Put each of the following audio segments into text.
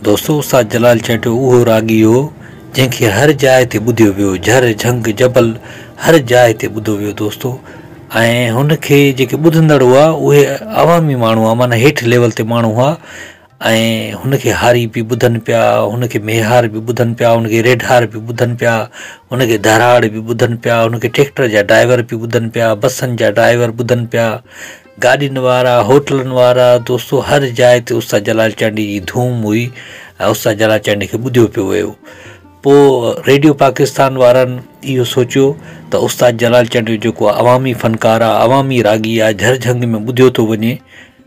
دوستو استاد جلال چهٽو اهو راڳي هو جنهن کي هر جاء تي ٻڌيو ويو جهر جهنگ جبل هر جاء تي ٻڌو ويو دوستو ۽ هن کي جيڪي ٻڌندڙ هئا اهي عوامي ماڻهو هئا معنيٰ هيٺ ليول تي ماڻهو هئا ۽ هن کي هاري به ٻڌن پيا، هن کي ميهار به ٻڌن پيا، هن کي ريڍار به ٻڌن پيا، هن کي ڌراڙ به ٻڌن پيا، هن کي ٽريڪٽر جا ڊرائيور به ٻڌن پيا، بسن جا ڊرائيور ٻڌن پيا، گاڏين وارا، هوٽلن وارا، دوستو هر جاء تي استاد جلال چانڊيي جي ڌوم هئي ۽ استاد جلال چانڊيي کي ٻڌيو پيو ويو. پوء ريڊيو پاڪستان وارن اهو سوچيو ته استاد جلال چانڊيو جيڪو عوامي فنڪار آهي، عوامي راڳي آهي، جهرجهنگ ۾ ٻڌيو ٿو وڃي،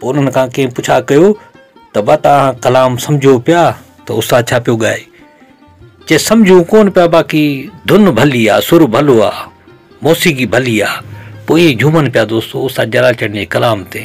پوء انهن کان ڪنهن پڇا ڪيو ته ڀا توهان ڪلام سمجهو پيا ته استاد ڇا پيو ڳائي؟ چيس سمجهون ڪونه پيا باقي ڌن ڀلي آ، سر ڀلو آ، موسيقي ڀلي آ. پوء ائين جهومن پيا دوستو استاد جلال چنڙ جي ڪلام تي.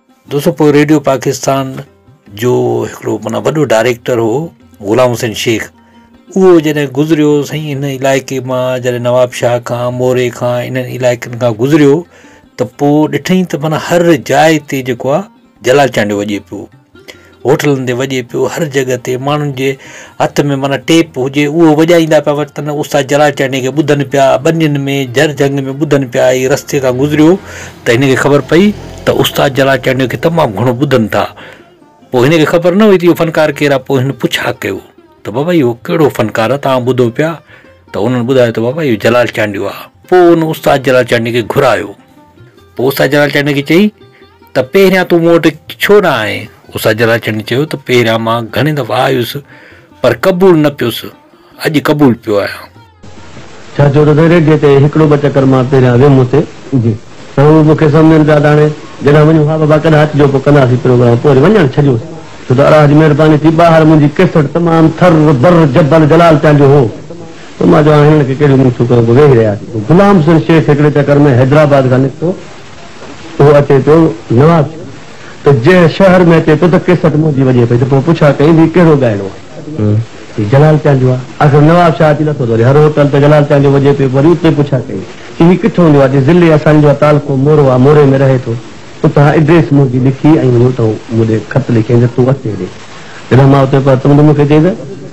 دوستو پوء ريڊيو پاڪستان جو هڪڙو معنيٰ وڏو ڊائريڪٽر هو غلام حسين شيخ اهو جڏهن گذريو سائين هن علائقي مان جڏهن نواب شاهه کان موري کان انهن علائقن کان گذريو ته پوء ڏٺئي ته معنيٰ هر جاء تي جيڪو آهي جلال چانڊيو وڄي پيو هوٽلن تي وڄي پيو هر جڳهه تي ماڻهن جي هٿ ۾ معنيٰ ٽيپ هجي اهو وڄائيندا پيا وتن استاد جراچانڊيء کي ٻڌن پيا ٻنين ۾ جر جهنگ ۾ ٻڌن پيا هي رستي تان گذريو ته هن کي خبر پئي ته استاد جراچانڊيء کي تمام گهڻو ٻڌن ٿا پوء هن کي خبر نه هئي ته اهو فنڪار ڪير آهي پوء هن پڇا ڪيو ته بابا اهو ڪهڙو فنڪار آهي توهان ٻڌو پيا ته انهن ٻڌايو ته بابا اهو جلال چانڊيو آهي پوء ان استاد جلال چانڊيء کي گهرايو اوسا جلال چانڊيو کي چئي ته پهريان تون مون وٽ ڇو نه آئين؟ اوسا جلال چانڊيو چيو ته پهريان مان گهڻي دفعا آيس پر قبول نه پيس، اڄ قبول پيو آهيان. ڇا ڇو ته سائين ريڊيء تي هڪڙو ٻه چڪر مان پهريان ويم اتي ته هو مون کي سمجهن پيا ته هاڻي جڏهن وڃون ها بابا ڪڏهن اچجو پوء ڪنداسين پروگرام پوء وري وڃڻ ڇڏيوس ڇو ته الاهه جي مهرباني ٿي ٻاهر منهنجي ڪيسٽ تمام ٿر بر جبل جلال چانڊيو هو تو مان چوان هنن کي ڪهڙيون مونچون ڪيون به ويهي رهياسين جو غلام حسين شيخ هڪڙي چڪر ۾ حيدرآباد کان نڪتو اهو اچي پيو نواز شاهه ته جنهن شهر ۾ اچي پيو ته ڪيسٽ منهنجي وڄي پئي ته پوء پڇا ڪئين ته هي ڪهڙو ڳائڻو آهي هي جلال چان جو آهي آخر نواب شاهه اچي لٿو ته وري هر هوٽل ته جلال چان جو وڄي پيو وري اتي پڇا ڪئين چي هي ڪٿون جو آهي چي ضلعي اسان جو آهي تعلقو مورو آهي موري ۾ رهي ٿو اتان ايڊريس منهنجي لکي ۽ وڃي اتان مون ڏي خط لکيائين ته تون اچ هيڏي جڏهن مان اتي پهتم ته مون کي چيائين ته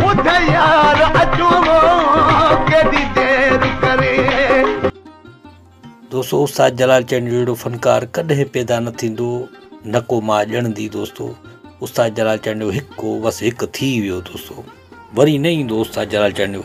ٻڌ يار اچون ھو ڪيڏي دير ڪري. دوستو استاد جلال چنڙيو جهڙو فنڪار ڪڏهن پيدا نه ٿيندو نه ڪو ماء ڄڻندي دوستو استاد جلال چنڙيو هڪ هو بس هڪ ٿي ويو دوستو وري نه ايندو استاد جلال چنڙيو.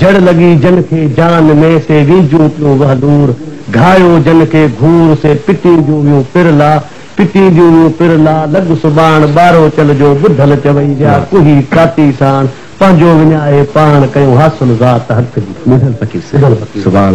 جڙ لڳي جن کي جان ۾، سي وينجيون پيون وهلور، گهايو جن کي گهور، سي پٽينديون ويون پر لا، پٽينديون ويون پر لا، لڳ سٻاڻ، ٻارو چل جو، ٻڌل چوئي ويا، ڪوهي ڪاتي ساڻ، پنهنجو وڃائي پاڻ، ڪيون حاصل ذات حق جي. ٻڌل پڪي سي، سٻاڻ.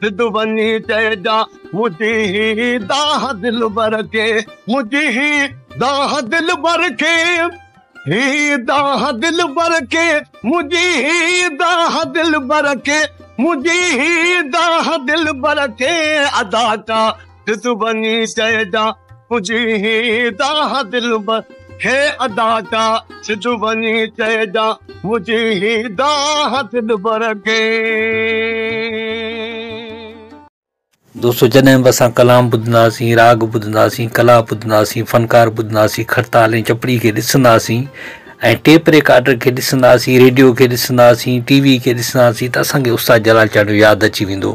سڌ وڃي چئجان منهنجي هي دانهن دلبر کي منهنجي هي دانهن دلبر کي هي دانهن دلبر کي منهنجي هي دانهن دلبر کي منهنجي هي دانهن دلبر کي ادا ڪا سڌو بني چئجا پڄي هيدا ها دلبر هي ادا جا سڌو بني چئجا پڄي هيدا ها دلبر کي. دوستو جڏهن به اسان ڪلام ٻڌنداسين راڳ ٻڌنداسين ڪلا ٻڌنداسين فنڪار ٻڌنداسين کڙتال ۽ چپڙي کي ڏسنداسين ۽ ٽيپ ريڪارڊر کي ڏسنداسين ريڊيو کي ڏسنداسين ٽي وي کي ڏسنداسين ته اسان کي استاد جلال چانڊيو ياد اچي ويندو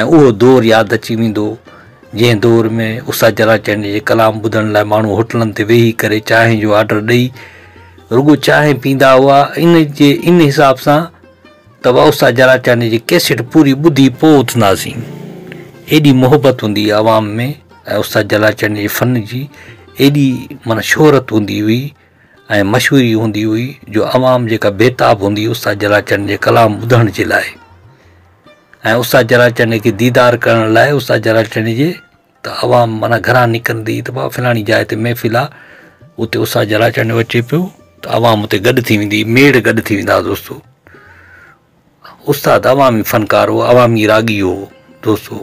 ۽ اهو دور ياد اچي ويندو، جنهن دور ۾ استاد چراچانڊيي جي ڪلام ٻڌڻ لاء ماڻهو هوٽلن تي ويهي ڪري چانهه جو آرڊر ڏئي رڳو چانهه پيندا هئا ان جي ان حساب سان ته استاد چراچانڊيي جي ڪيسيٽ پوري ٻڌي پوء اٿنداسين. ايڏي محبت هوندي هئي عوام ۾ ۽ استاد چراچانڊيي جي فن جي ايڏي معنيٰ شهرت هوندي هئي ۽ مشهوري هوندي هئي جو عوام جيڪا بيتاب هوندي هئي استاد چراچانڊيي جي ڪلام ٻڌڻ جي لاء. ۽ استاد جلال چنڙي کي ديدار ڪرڻ لاء استاد جلال چنڙي جي ته عوام معنيٰ گهران نڪرندي ته بابا فلاڻي جاء تي محفل آ اتي استاد جلال چنڙيو اچي پيو ته عوام اتي گڏ ٿي ويندي ميڙ گڏ ٿي ويندا دوستو استاد عوامي فنڪار هو عوامي راڳي هو دوستو